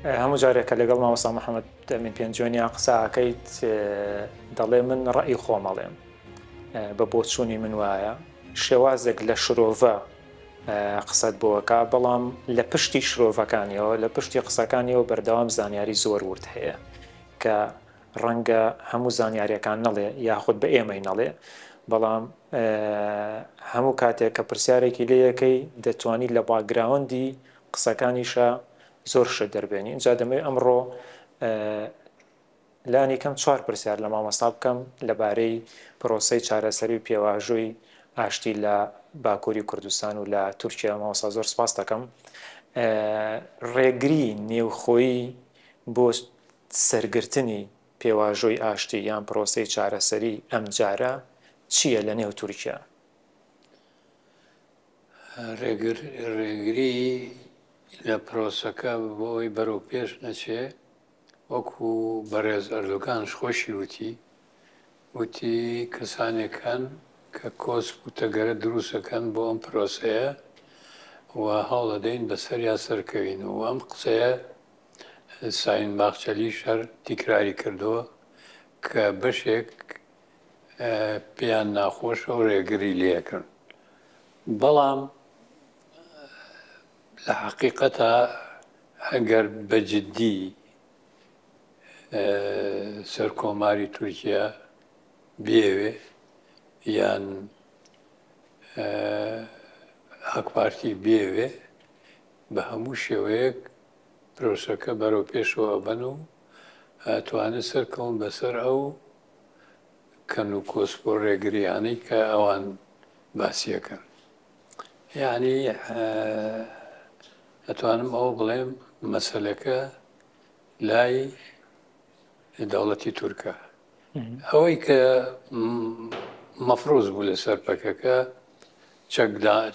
هەموو جارێک کە لەگەڵ مامۆستا محەمەد ئەمین پێنجۆنیا قسە ئەکەیت دەڵێ من ڕەئی خۆم ئەڵێم بە بۆچوونی من وایە شێوازێک لە شرۆڤە قسەت بۆ ئەکا بەڵام لە پشتی شرۆڤەکانیەوە لە پشتی قسەکانیەوە بەردەوام زانیاری زۆر ورد هەیە کە ڕەنگە هەموو زانیاریەکان نەڵێ یاخود بە ئێمەی نەڵێ بەڵام هەموو کاتێک کە پرسیارێکی لەیەکەی دەتوانی لە باگراوەندی قسەکانیشە زۆر شت دەربێنی ئینجا دەمەوێت ئەمڕۆ لانی کەم چوار پرسیار لە مامۆستا بکەم لەبارەی پرۆسی چارەسەری و پێواژۆی ئاشتی لە باکووری کوردستان و لە تورکیا ماوەسا زۆر سپاس دەکەم ڕێگری نێوخۆی بۆ سەرگرتنی پێواژۆی ئاشتی یان پرۆسی چارەسەری ئەم جارە چییە لە نێو تورکیا ڕێگری لە پرۆسەکە بۆ ئەوەی بەرەو پێش نەچێ وەکو بەڕێز ئەردۆگانش خۆشی وتی وتی کەسانێکان کە کۆسپ و تەگەرە دروستەکەن بۆ ئەم پرۆسەیە و هەوڵەدەین بەسەریا سەرکەوین و ئەم قسەیە ساین باخچەلی شەر تیکراری کردووە کە بەشێک پێیان ناخۆشە و ڕێگری لێکرد بەڵام لە حقیقەتە ئەگەر بەجددی سەر کۆماری تورکیا بێوێ یان ئاکپارتی بێوێ بە هەموو شێوەیەک پرۆسەکە بەرەو پێشەوە بن و توانێت سەرکەون بەسەر ئەو کەن و کۆسپ و ڕێگریانەی کە ئەوان باسیەکەن یعنی ئەتوانم ئەوە بڵێم مەسلەکە لای دەوڵەتی تورکە ئەوەی کە مەفرۆز بوو لەسەر پەکەکە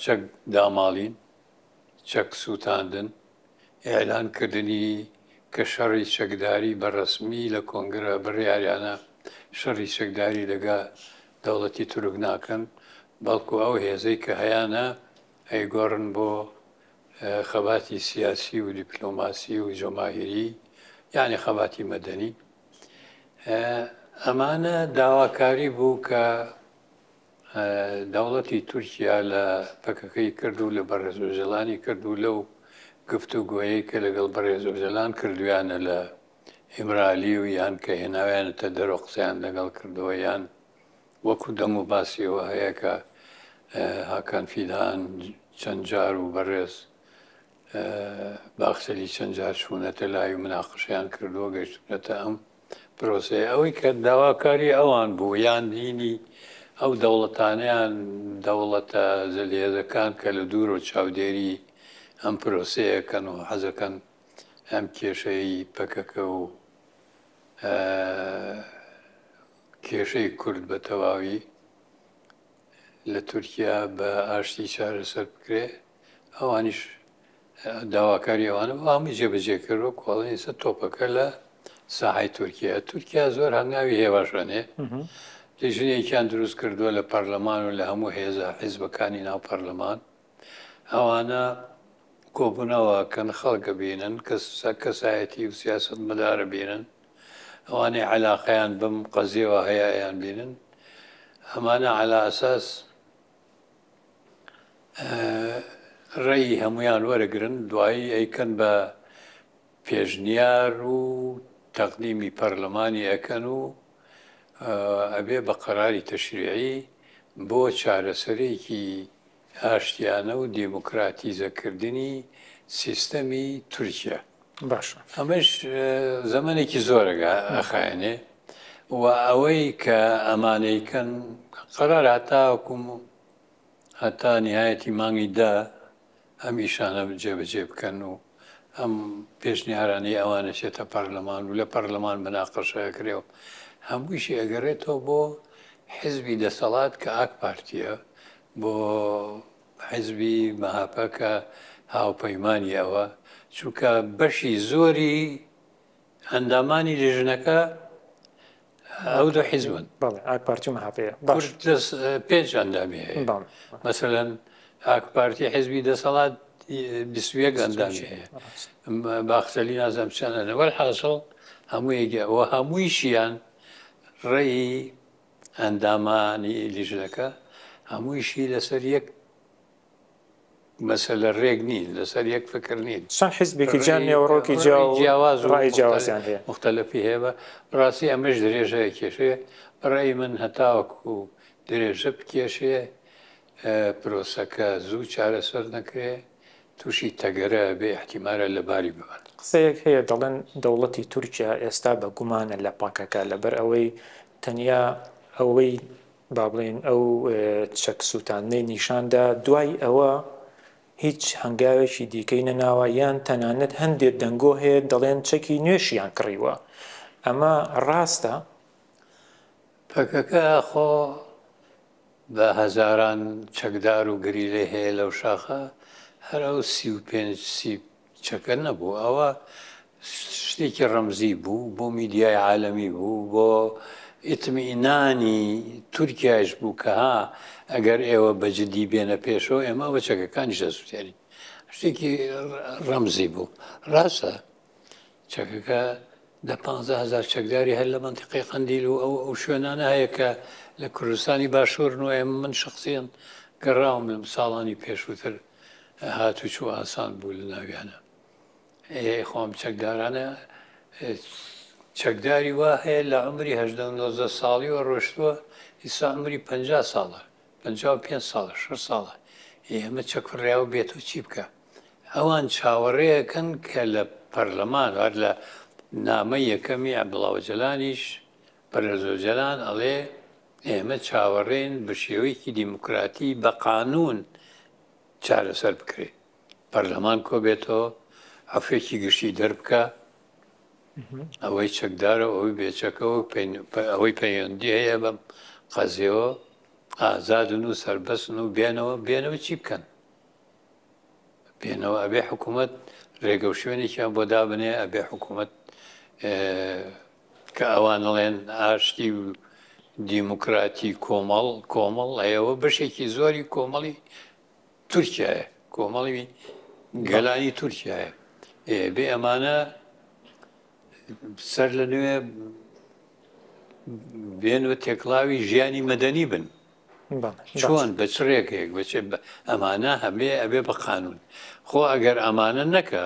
چەک داماڵین چەک سووتاندن، ئیعلان کردنی کە شەڕی چەکداری بە ڕەسمی لە کۆنگرە بڕیاریانە شەڕی چەکداری لەگە دەوڵەتی تورک ناکەن بەڵکو ئەو هێزەی کە هەیانە ئەیگۆڕن بۆ خەباتی سیاسی و دیپلۆماسی و جەماهیری یانی خەباتی مەدەنی ئەمانە داواکاری بوو کە دەوڵەتی تورکیا لە پەکەکەی کرد و لە بەڕێز ئۆجەلانی کرد و لەو گفت و گۆیەی کە لەگەڵ بەڕێز ئۆجەلان کردویانە لە ئیمرالی و یان کە هێناویانەتە دەرەوە قسەیان لەگەڵ کردەوە یان وەکو دەم و باسیەوە هەیە کە هاکان فیدان چەند جار و بەڕێز باخچەلی چەند جار چوونەتە لای و مناقشیان کردووە گەشتونەتە ئەم پرۆسەیە ئەوەی کە داواکاری ئەوان بوو یان دینی ئەو دەوڵەتانیان دەوڵەتە زلهێزەکان کە لە دوور و چاودێری ئەم پرۆسەیەکەن و حەزەکەن ئەم کێشەی پەکەکە و کێشەی کورد بە تەواوی لە تورکیا بە ئاشتی چارەسەر بکرێ ئەوانیش داواکاری ئەوانە بۆ هەمووی جێبەجێ کرد وە کۆڵی ئێستا تۆپەکە لە ساحای تورکیا تورکیا زۆر هەنگاوی هێواشەنێ لیژنێکیان دروست کردووە لە پەرلەمان و لە هەموو هێزە حیزبەکانی ناو پەرلەمان ئەوانە کۆبوونەوە کەن خەڵکە بینن کە کەسایەتی و سیاست مەدارە بینن ئەوانەی علاقەیان بم قەزیەوە هەیەیان بینن ئەمانە علا ئەساس ڕێی هەمویان وەرەگرن دوایی ئەیکەن بە پێشنیار و تەقدیمی پەرلەمانی ئەکەن و ئەبێ بە قەراری تەشریعی بۆ چارەسەرێکی ئاشتیانە و دیموکراتیزەکردنی سیستەمی تورکیا. باشە ئەمەش زەمەنێکی زۆرەگە ئەخایێنێ و ئەوەی کە ئەمانەیکەن قەرار هەتاکوم و هەتا نهایەتی مانگی دا ئەم ئیشانە جێبەجێ بکەن و ئەم پێشنیارانەی ئەوانە چێتە پەرلەمان و لە پەرلەمان بناقەشەکرێ و هەموویشی ئەگەڕێتەوە بۆ حزبی دەسەڵات کە ئاک پارتیە بۆ حیزبی مەهەپە کە هاوپەیمانی ئەوە، چونکە بەشی زۆری ئەندامانی لیژنەکە ئەو دوو حیزبن ئاکپارتی مەهاپەیە باش پێنج ئەندامی هەیە مەسەەن ئاکپارتی حیزبی دەسەڵات بیسویەک ئەندامی هەیە باخسەلی نازم چەنەوەل حاصل هەموو یەگە و هەموویشیان ڕێی ئەندامانی لیژنەکە هەموویشی لەسەر یەک مەسەلە رێک نین، لەسەر یەک فکر نین. چەند حیزبێکی جیا، نێوەڕۆکی جیا و رای جیاوازیان هەیە. موختەلەفی هەیە. بە راستی ئەمەش درێژە ئەکێشێ. بە رای من هەتاوەکو درێژە بکێشێ، پرۆسەکە زوو چارەسەر نەکرێ توشی تەگەرە ئەبێ ئیحتیمارە لەباری ببەن. قسەیەک هەیە دەڵێن دەوڵەتی تورکیا ئێستا بە گومانە لە پەکەکە لەبەر ئەوەی تەنیا ئەوەی با بڵێین ئەو چەک سووتاندنەی نیشان دا دوای ئەوە هیچ هەنگاوێکی دیکەی نەناوە یان تەنانەت هەندێ دەنگۆ هەیە دەڵێن چەکی نوێشیان کڕیوە ئەمە ڕاستە؟ پەکەکە خۆ بە هەزاران چەکدار و گەریلەی هەیە لەو شاخە، هەر ئەو سی و پێنج سی چەکە نەبوو، ئەوە شتێکی ڕەمزی بوو، بۆ میدیای عالەمی بوو، بۆ ئیتمئینانی تورکیایش بوو کە ها ئەگەر ئێوە بە جدی بێنە پێشەوە ئێمە ئەوە چەکەکانیش دەسوتێنین، شتێکی ڕەمزی بوو، ڕاستە. چەکەکە دە پانزە هەزار چەکداری هەر لە مەنتیقەی قەندیل و ئەو ئەو شوێنانە هەیە کە لە کوردستانی باشوورن و ئێمە من شخصیەن گەڕاوم لەم ساڵانی پێشووتر هاتوچوو ئاسان بوو لە ناویانە ئێ خۆم چەکدارانە چەکداری وا هەیە لە عمری هەدە نۆزە ساڵی و ڕۆشتووە ئیسا عمری پ ساڵە پ پێ ساڵە ش ساڵە ئێمە چەکڕیا و بێت و چی بکە ئەوان چاوەڕێەکەن کە لە پەرلەمان هەر لە نامە یەکەمی عەبدوڵاوجەلانیش بەرەزۆجەلان ئەڵێ ئێمە چاوەڕێن بە شێوەیەکی دیموکراتی بە قانون چارەسەر بکرێ پەرلەمان کۆبێتەوە عفێکی گشتی دەربکە ئەوەی چەکدارە ئەوەی بێچەکەەوە ئەوەی پەیوەندی هەیە بەم قەزیەوە ئازادن و سربەستن و بێنەوە بێنەوە چی بکەن بێنەوە ئەبێ حکوومەت ڕێگە و شوێنێکیان بۆ دابنێ ئەبێ حکوومەت کە ئەوانڵێن ئاشتی و دیموکراتی کۆمەڵ کۆمەڵ ئەیەوە بەشێکی زۆری کۆمەڵی تورکایە کۆمەڵی گەلانی تورکایە بێ ئەمانە سەر لە نوێ بێن و تێکڵاوی ژیانی مەدەنی بن چۆن بە چ رێگەیەک بە چ ئەمانە هەبێ ئەبێ بە قانون خۆ ئەگەر ئەمانە نەکا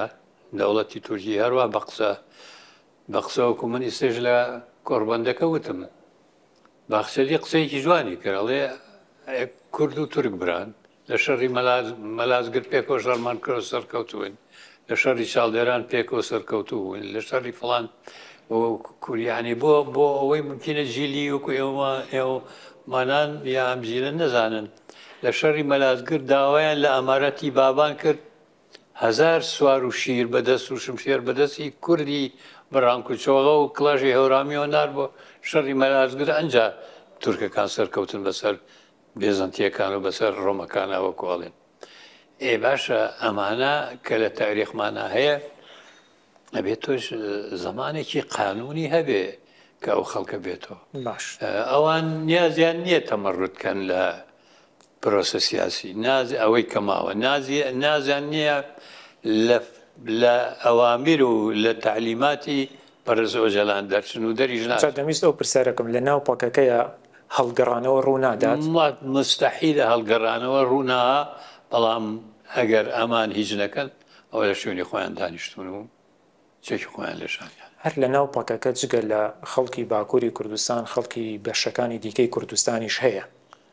دەوڵەتی تورکی هەروە بە قسە بە قسەوەکو من ئیسێش لە کۆڕبەندەکە وتم باخچەلی قسەیەکی جوانی کراڵێ کورد و تورک بران لە شەڕی مەلازگرد پێکەوە شەڕمان کردو سەرکەوتووین، لە شەڕی چاڵدێران پێکەوە سەرکەوتوو بووین، لە شەڕی فڵان کوریانی بۆ بۆ ئەوەی ممکنە جیلی وەکو ئێوە ئێوە مانان یا ئەم جیلە نەزانن لە شەڕی مەلازگرد داوایان لە ئەمارەتی بابان کرد هزار سوار و شیر بەدەست و شمشێر بەدەستی کوردی بڕانک و چۆغە و کڵاژی هەورامیەوە نار بۆ شەڕی مەلازگر ئەنجا تورکەکان سەرکەوتن بەسەر بێزەنتیەکان و بەسەر ڕۆمەکانا وەکو ئەڵێن ئێ باشە ئەمانە کە لە تاریخمانە هەیە ئەبێت تۆش زمانێکی قانونی هەبێ کە ئەو خەڵکە بێتەوە باش ئەوان نیازیان نییە تەمەڕوتکەن لە پرۆسە سیاسی نازی ئەوەی کەماوە نازی نازیان نییە لە ئەوامیر و لە تعلیماتی بەڕێز ئۆجەلان دەرچن و دەریش ناچن. دەمویست ئەو پرسیارەکەم لە ناو پەکەکەیە هەڵگەڕانەوە ڕوو نادات؟ مستحیلە هەڵگەڕانەوە ڕوو ناا، بەڵام ئەگەر ئەمان هیچ نەکەن ئەوە لە شوێنی خۆیان دانیشتوون و چەکی خۆیان لێ شاندیانە. هەر لە ناو پەکەکە جگە لە خەڵکی باکووری کوردستان خەڵکی بەشەکانی دیکەی کوردستانیش هەیە؟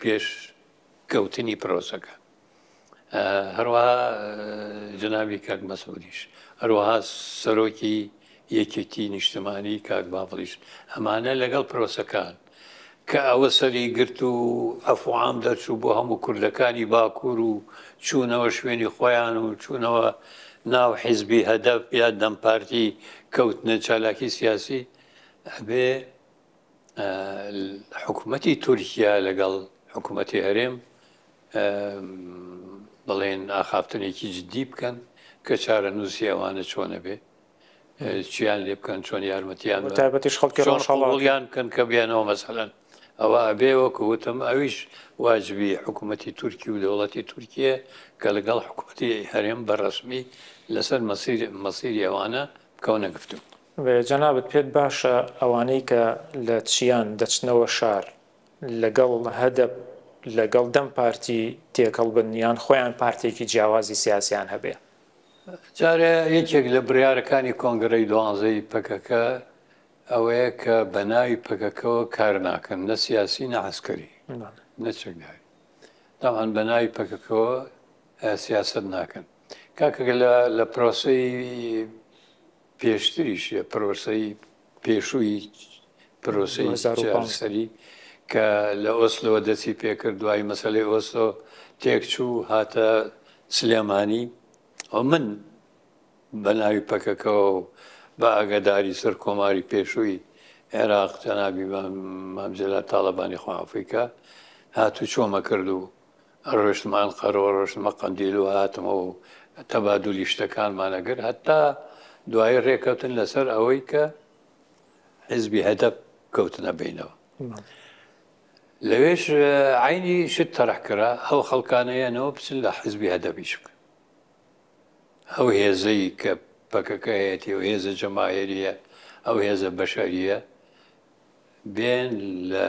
پێش کەوتنی پرۆسەکە هەروەها جنابی کاک مەسعودیش هەروەها سەرۆکی یەکێتی نیشتمانی کاک باڤڵیش ئەمانە لەگەڵ پرۆسەکان کە ئەوە سەری گرت و ئەفعام دەرچوو بۆ هەموو کوردەکانی باکوور و چوونەوە شوێنی خۆیان و چوونەوە ناو حیزبی هەدەف یا دەمپارتی کەوتنە چالاکی سیاسی ئەبێ حکوومەتی تورکیا لەگەڵ حکوومەتی هەرێم بڵێن ئاخافتنێکی جددی بکەن کە چارە نووسی ئەوانە چۆنە بێ چیان لێ بکەن چۆن یارمەتیان تابەتیش خەڵکی ڕۆژهڵڵیان بکەن کە بێنەوە مەسەلەن ئەوە ئەبێ وەکو وتم ئەویش واجبی حکوومەتی تورکی و دەوڵەتی تورکیە کە لەگەڵ حکوومەتی هەرێم بە ڕسمی لەسەر مەسیری ئەوانە بکەونە گفتو جەنابت پێت باشە ئەوانەی کە لە چیان دەچنەوە شار لەگەڵ هەدەپ لەگەڵ دەم پارتی تێکەڵ بن یان خۆیان پارتێکی جیاوازی سیاسیان هەبێ؟ جارێ یەکێک لە بڕیارەکانی کۆنگرەی دوانزەی پەکەکە ئەوەیە کە بەناوی پەکەکەوە کار ناکەن نە سیاسی نە عسکەری نە چەکداری تاوان بەناوی پەکەکەوە سیاست ناکەن کاکەکە لە پرۆسی پێشتریش پرۆسەی پێشووی پرۆسەی چارسەری کە لە ئۆسلۆ دەستی پێکرد دوای مەسلەی ئۆسلۆ تێکچوو هاتە سلێمانی ئەو من بە ناوی پەکەکەەوە و بە ئاگاداری سەر کۆماری پێشووی عێراق جەنابی مامجللا تاالبانی خوافیکە هاتوو چۆمە کردو ئەڕۆشتمە ئەنقەرەوە ڕۆشتمە قەندیل و هاتمەوە و تەبادولی شتەکانمان ئەگرت هەتا دوایی ڕێکەوتن لەسەر ئەوەی کە حزبی هەدەپ کەوتنە بینەوە لەوێش عینی شت تەرحکرا ئەو خەڵکانەیەنەوە بچن لە حزبی هەدەبیش بکەن ئەو هێزەی کە پەکەکە هەیەتی و هێزە جەماهێریە ئەو هێزە بەشەریە بێن لە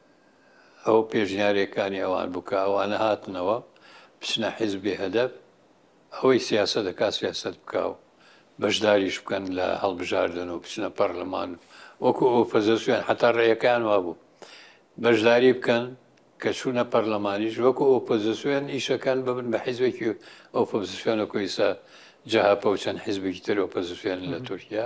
ئەو پێشنیارەکانی ئەوان بوو کە ئەوانە هاتنەوە بچنە حیزبی هەدەپ ئەوەی سیاسەت دەکات سیاسەت بکا و بەشداریش بکەن لە هەڵبژاردن و بچنە پەرلەمان وەکو ئۆپۆزیسیۆن حتا ڕێیەکەیان وابوو بەشداری بکەن کە چوونە پەرلەمانیش وەکو ئۆپۆزیسیۆن ئیشەکەن ببن بە حیزبێکی ئۆپۆزیسیۆنە کۆیسە جەهەپە و چەند حیزبێکی تر ئۆپۆزیسیۆن لە تورکیا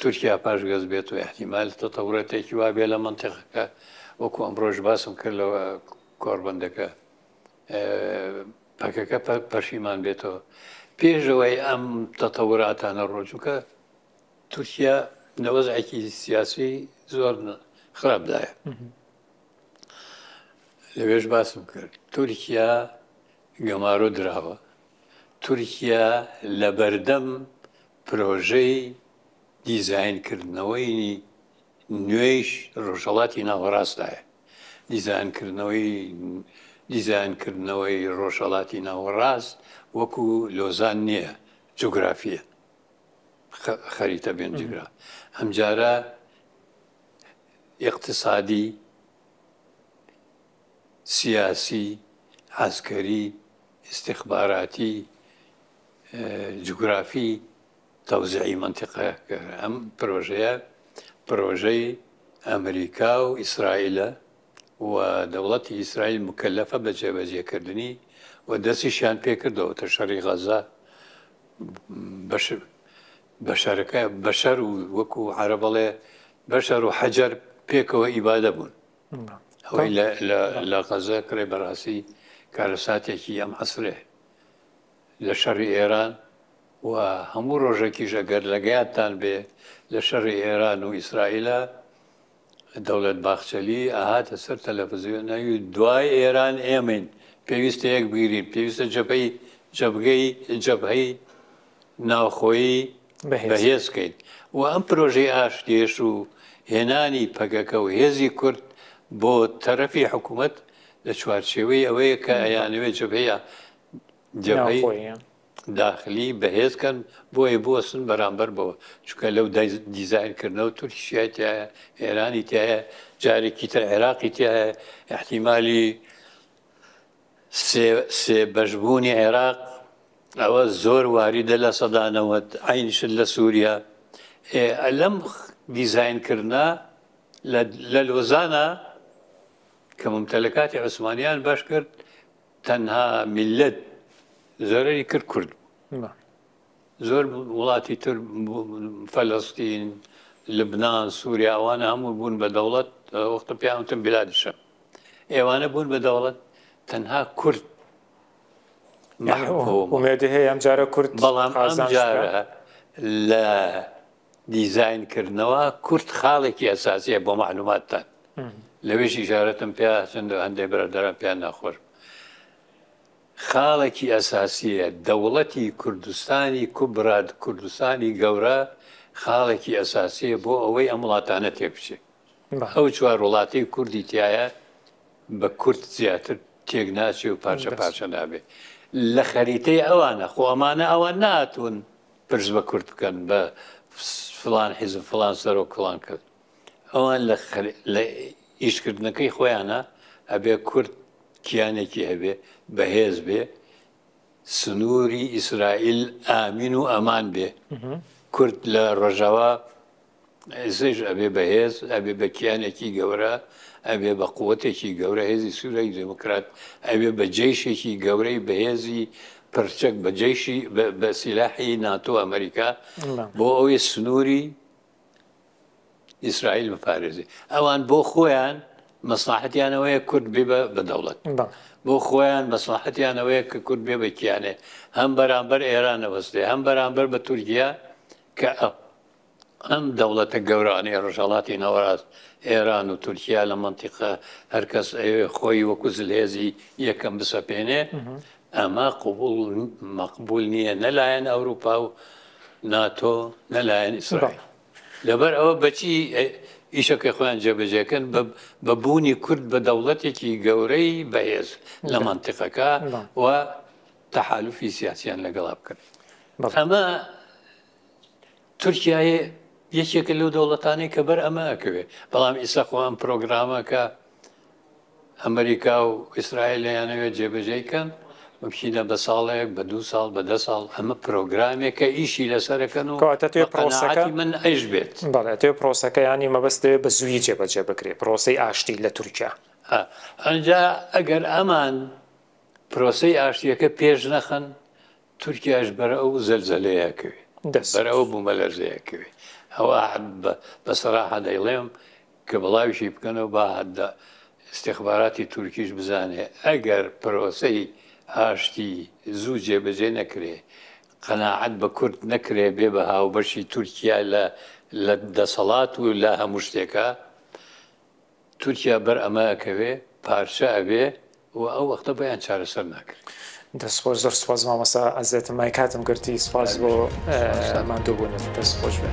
تورکیا پاشگەز بێت و ئیحتیمال تەتەوراتێکی وا بێ لە مەنتیقەکە وەکو ئەمڕۆژ باسم کرد لە کۆربەندەکە پەکەکە پەشیمان بێتەوە پێشەوەی ئەم تەتەوراتانە ڕۆژووکە تورکیا نەوەزعێکی سیاسی زۆر خراپدایە لەوێش باسم کرد تورکیا گەمارۆ دراوە تورکیا لە بەردەم پرۆژەی دیزاین کردنەوەی نوێیش ڕۆژهەڵاتی ناوەڕاستدایە. دیزاین کردنەوەی دیزاین کردنەوەی ڕۆژهەڵاتی ناوەڕاست وەکو لۆزان نییە جوگرافیە خەریتە بێن جگرا ئەمجارە اقتصادی سیاسی عسکەری استخباراتی جوگرافی تەوزیعی مەنتیقە کە ئەم پرۆژەیە پرۆژەی ئەمریکا و ئیسرائیلە و دەوڵەتی ئیسرائیل مکەلەفە بە جێبەجێکردنی و دەستیشیان پێکردەوە تە شەڕی غەزە بەشەرەکە بەشەر و وەکو عرە بەڵێ بەشەر و حەجەر پێکەوە ئیبادە بوون ئەوەی لە غەزە کڕێ بەڕاستی کارەساتێکی ئەم عسرێ لە شەڕی ئێران و هەموو ڕۆژەکیش ئەگەر لەگەیادتان بێ لە شەڕی ئێران و ئیسرائیلا دەوڵەت باخچەلی ئەهاتە سەر تەلەفزیۆن ناوی دوای ئێران ئێمەین پێویستە یەک بگیرین پێویستە جەپەی جەبگەی جەبهەی ناوخۆیی بەهێزکەین و ئەم پرۆژەی ئاشتێش و هێنانی پەگەکە و هێزی کورد بۆ تەرەفی حکوومەت لە چوارچێوەی ئەوەیە کە ئەیانەوێت جەبەیە جەبهەی داخلی بەهێز کەن بۆیە بوەستن بەرامبەر بەوە چکە لەو دیزاین کردنەوە تورکیشای تایە ئێرانی تایە جارێکی تر عێراقی تایە احتیممالی سێ بەشبوونی عێراق ئەوە زۆر واریدە لە سەدانەوەت ئاینشت لە سووریا لەم دیزاینکردە لە لۆزانە کە ممتەلەکاتی عوسمانیان باش کرد تەنها میللەت زۆرەری کرد کورد بوو زۆر وڵاتی تر فەلەستین لبنان سووریا ئەوانە هەموو بوون بە دەوڵەت وەختە پیاوتم بلادشە ئێوانە بوون بە دەوڵەت تەنها کورد ئومێدی هەیە ئەم جارە کورد بەڵام ئەم جارە لە دیزاین کردنەوە کورت خاڵێکی ئەساسیە بۆ معلوماتتان لەوێش ئیشارەتم پێ چەند هەندێک برادران پێیان ناخۆش خاڵێکی ئەساسیە دەوڵەتی کوردستانی کوبراد کوردستانی گەورە خاڵێکی ئەساسیە بۆ ئەوەی ئەم وڵاتانە تێبچێت ئەو چوار وڵاتی کوردی تایە بە کورد زیاتر تێک ناچێ و پارچە پارچە نابێ لە خەریتەی ئەوانە خۆمانە ئەوان ناتون پرس بە کورد بکەن بە فلان حیزب فلان سەرۆک فلان کەس ئەوان لە ئیشکردنەکەی خۆیانە ئەبێ کورد کیانێکی هەبێ بەهێز بێ سنووری ئیسرائیل ئامین و ئەمان بێ کورد لە ڕژەوە زێژ ئەبێ بەهێز ئەبێ بە کیانێکی گەورە ئەبێ بە قوتێکی گەورە هێزی سوورەی دموکرات ئەبێ بە جێشێکی گەورەی بەهێزی پرچەک بە جێشی بە سیلاحی ناتۆ ئەمریکا بۆ ئەوەی سنووری ئیسرائیل بپارێزی ئەوان بۆ خۆیان مەسلحەتیانەوەیە کورد بێ بە دەوڵەت بۆ خۆیان مەسلحەتیانەوەیە کە کورد بێ بەکیانێ هەم بەرامبەر ئێرانەوەستێ هەم بەرامبەر بە تورکیا کە ئەم دەوڵەتە گەورانەی ڕژەڵاتی ناوەڕاست ئێران و تورکیا لە منتیقە هەرکەس ئەوێ خۆی وەکو زلهێزی یەکەم بسەپێنێ ئەمە قوبول مەقبول نییە نەلایەن ئەوروپا و ناتۆ نەلایەن ئیسرائیل لەبەر ئەوە بەچی ئیشەکەی خۆیان جێبەجێکن بە بوونی کورد بە دەوڵەتێکی گەورەی بەهێز لە منتیقەکە و تەحالفی سیاسیان لەگەڵا بکەن ئەمە تورکایە یەکێکە لەو دەوڵەتانی کە بەر ئەمە ئەکەوێت بەڵام ئیسا خۆ ئەم پرۆگرامە کە ئەمریکا و ئیسرائیل لەیانەوێت جێبەجێ کەن بچینە بە ساڵێک بە دو ساڵ بە دە ساڵ ئەمە پرۆگرامێکە ئیشی لەسەرەکەن و پرۆسەکە من ئەیش بێت بەڵێتێ پرۆسەکە ینی مەبەستێ بە زووی جێبەجێ بکرێ پرۆسی ئاشتی لە تورکیا ئەجا ئەگەر ئەمان پرۆسی ئاشتیەکە پێش نەخن تورکیاش بەر ئەو زەلزەلەیە کەوێ بەر ئەو بومەلەرزەیە کەوێ ئەوە بە سەراحە دەیڵێم کە بڵاویشی بکەنەوە با هەدە ئستیخباراتی تورکیش بزانێ ئەگەر پرۆسەی ئاشتی زوو جێبەجێ نەکرێ قەناعەت بە کورد نەکرێ بێ بە هاوبەشی تورکیا لە لە دەسەڵات و لە هەموو شتێکا تورکیا بەر ئەمە ئەکەوێ پارچە ئەبێ و ئەو وەختە بۆیان چارەسەر ناکرێ. دەست خۆش زۆر سوپاس مامۆستا ئەزێتم مای کاتم گرتی سوپاس بۆ ماندوو بونت دەست خۆش بێ.